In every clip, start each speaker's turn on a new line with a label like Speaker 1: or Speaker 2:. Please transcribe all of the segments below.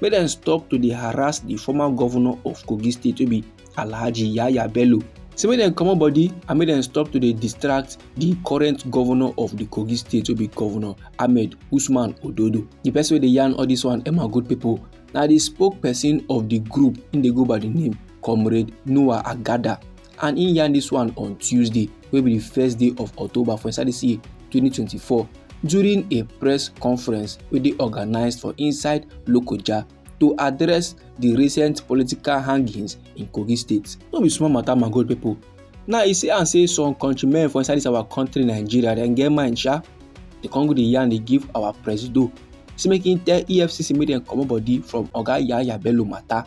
Speaker 1: make dem stop to dey harass di former govnor of kogi state wey be alhaji yahaya bello say make dem comot body and make dem stop to dey distract di current govnor of di kogi state wey be govnor ahmed usman ododo di person wey dey yarn all dis one emma good pipo na di spokesperson of di group im dey go by di name comrade noah agada and im yarn dis one on tuesday wey be di first day of october for inside dis year 2024 during a press conference wey dey organised for inside lokoja to address di recent political hangings in kogi state no be small matter my good pipo now e say am say some countrymen for inside dis our country nigeria dem get mind sha di con go dey yarn dey give our presido say make im tell efcc make dem comot body from oga yahaya bello matter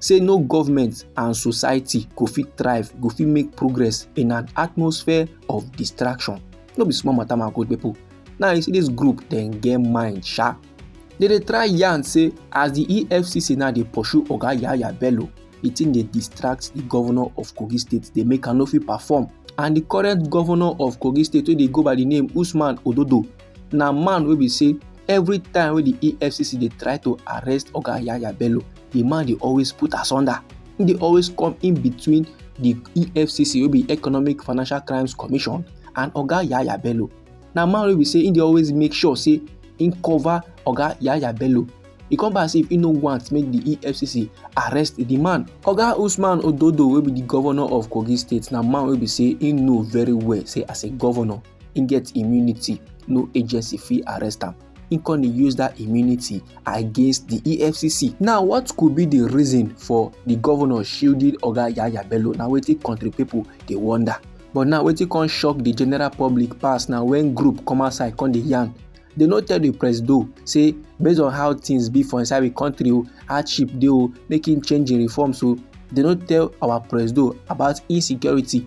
Speaker 1: say no government and society go fit thrive go fit make progress in an atmosphere of distraction no be small matter my good people now you see this group dem get mind sha they dey try yarn say as the efcc now dey pursue oga yahaya bello the thing dey distract the governor of kogi state dey make am no fit perform and the current governor of kogi state wey dey go by the name usman ododo na man wey be say every time wey the efcc dey try to arrest oga yahaya bello the man dey always put asunder he dey always come in between the efcc wey be economic financial crimes commission and oga yaya bello na man wey be say he dey always make sure say he cover oga yaya bello e come be as if he no want make the efcc arrest the man oga usman ododo wey be the governor of kogi state na man wey be say he know very well say as a governor he get immunity no agency fit arrest am im come dey use that immunity against the efcc now what could be the reason for the governor shielding oga yaya bello na wetin country people dey wonder but now wetin come shock the general public pass na when group come outside come dey yarn they no tell the presido say based on how things be for inside the country o hardship dey o make him change him reforms o they no tell our presido about insecurity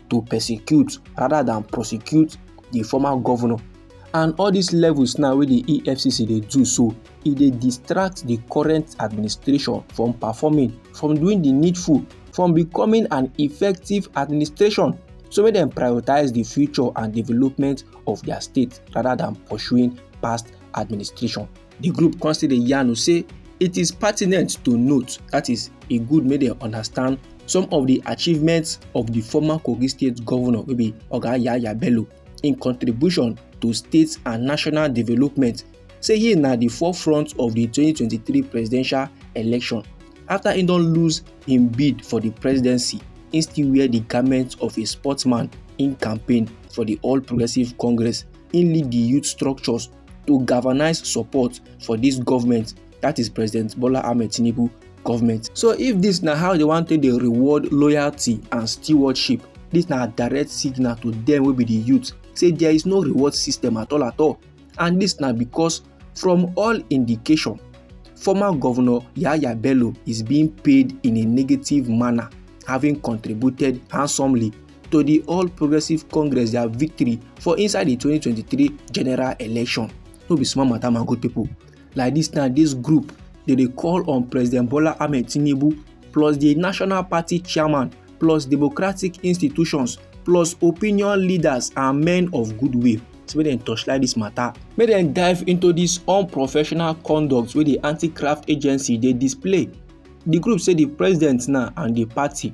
Speaker 1: to persecute rather than prosecute the former governor and all these levels now wey the efcc dey do so e dey distract the current administration from performing from doing the needful from becoming an effective administration so make dem prioritize the future and development of their state rather than pursuing past administration The group come still dey yarn say it is pertinent to note that is e good make dem understand some of the achievements of the former Kogi state governor wey be Oga Yaya Bello in contribution to state and national development say he na the forefront of the 2023 presidential election after he don lose im bid for the presidency he still wear the garment of a sportsman in campaign for the all progressives congress he lead the youth structures to galvanize support for this government that is president bola ahmed tinubu government so if this na how they wan take dey reward loyalty and stewardship this na direct signal to them wey be the youth say there is no reward system at all at all and this na because from all indication former governor yahaya bello is being paid in a negative manner having contributed handsomely to di all progressives congress dia victory for inside di 2023 general election no be small matter my good pipo like dis now dis group dey dey call on president bola ahmed tinubu plus di national party chairman plus democratic institutions plus opinion leaders and men of goodwill say make dem torchlight dis matter make dem dive into dis unprofessional conduct wey di anti-craft agency dey display di group say di president now and di party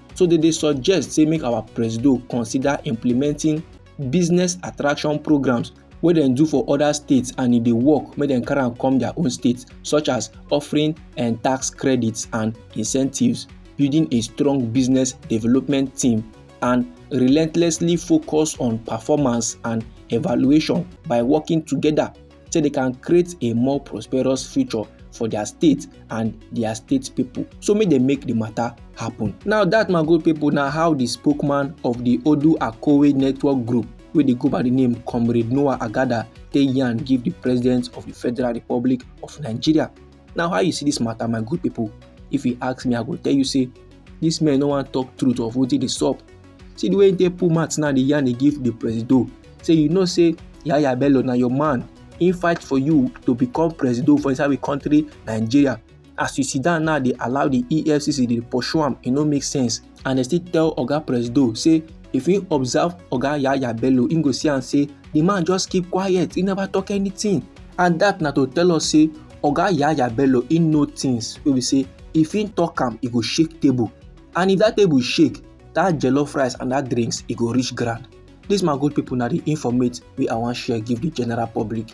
Speaker 1: so they dey suggest say make our presido consider implementing business attraction programs wey dem do for other states and e dey work make dem carry am come their own states such as offering and eh, tax credits and incentives building a strong business development team and relentlessly focus on performance and evaluation by working together so they can create a more prosperous future for their state and their state people so make dem make the matter happen. now that my good people na how the spokesman of the odu akowe network group wey dey go by the name comrade noah agada take yarn give the president of the federal republic of nigeria Now how you see this matter my good people if you ask me I go tell you say this man no wan talk truth of wetin dey sup. See the way he take pull mouth now dey yarn dey give the presido say you know say Yahaya Bello na your man he fight for you to become presido for inside we country Nigeria as you sit down now dey allow the EFCC dey pursue am e no make sense. and dem still tell oga presido say if he observe oga yaya bello he go see am say the man just keep quiet he never talk anything and that na to tell us say oga yaya bello he know things wey be say if he talk am he go shake table and if that table shake that jollof rice and that drinks e go reach ground this my good people na the informate wey i wan share give the general public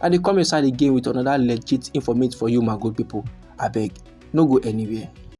Speaker 1: i dey come your side again with another legit informate for you my good people abeg no go anywhere